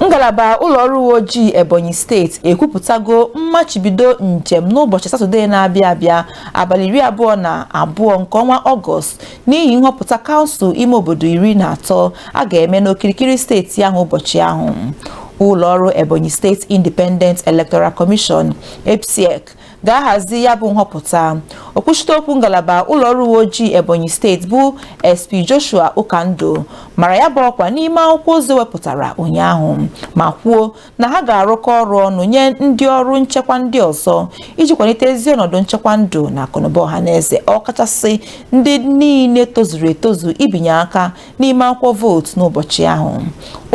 ngalaba ụlọọrụ uwe ojii ebonyi steeti ekwupụtago mmachibido njem n'ụbọchị satọdee na-abịa abịa abalị iri abụọ na abụọ nke ọnwa ọgọst n'ihi nhọpụta kansụl ime obodo iri na atọ a ga-eme n'okirikiri steeti ahụ ụbọchị ahụ ụlọọrụ ebonyi state independent electoral commission ebsiec ga-ahazi ya bụ nhọpụta okwuchite okwu ngalaba ụlọ ọrụ uwe ojii ebonyi steeti bụ sp joshua ụkandụ mara ya bụ ọkwa n'ime akwụkwọ ozi wepụtara ụnyaahụ ma kwuo na ha ga-arụkọ ọrụ ọnụ nye ndị ọrụ nchekwa ndị ọzọ iji kwalite ezi ọnọdụ nchekwa ndụ na akụnụba ọha na eze ọkachasị ndị niile tozuru etozu ibinye aka n'ime akwụkwọ vootu n'ụbọchị ahụ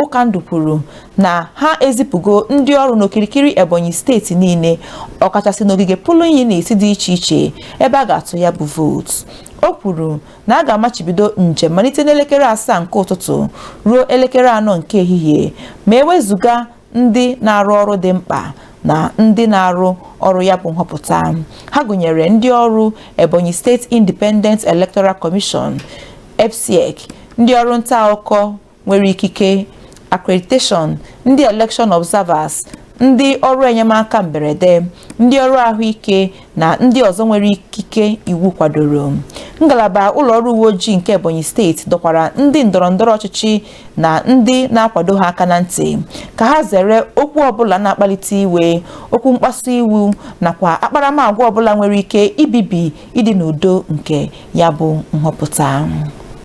Ụkandụ kwuru na ha ezipụgo ndị ọrụ n'okirikiri Ebonyi steeti niile ọkachasị n'ogige polling unit dị iche iche ebe a ga-atụ ya bụ vootu o kwuru na a ga-amachibido njem malite n'elekere asaa nke ụtụtụ ruo elekere anọ nke ehihie ma ewezuga ndị na-arụ ọrụ dị mkpa na ndị na-arụ ọrụ ya bụ nhọpụta ha gụnyere ndị ọrụ Ebonyi State Independent Electoral Commission EBSIEC ndị ọrụ nta akụkọ nwere ikike accreditation ndị election observers ndị ọrụ enyemaka mberede ndị ọrụ ahụike na ndị ọzọ nwere ikike iwu kwadoro ngalaba ụlọ ọrụ uwe ojii nke Ebonyi steeti dọkwara ndị ndọrọ ndọrọ ọchịchị na ndị na-akwado ha aka na ntị ka ha zere okwu ọbụla na-akpalite iwe okwu mkpasu iwu nakwa akparamagwa ọbụla nwere ike ibibi ịdị n'udo nke ya bụ nhọpụta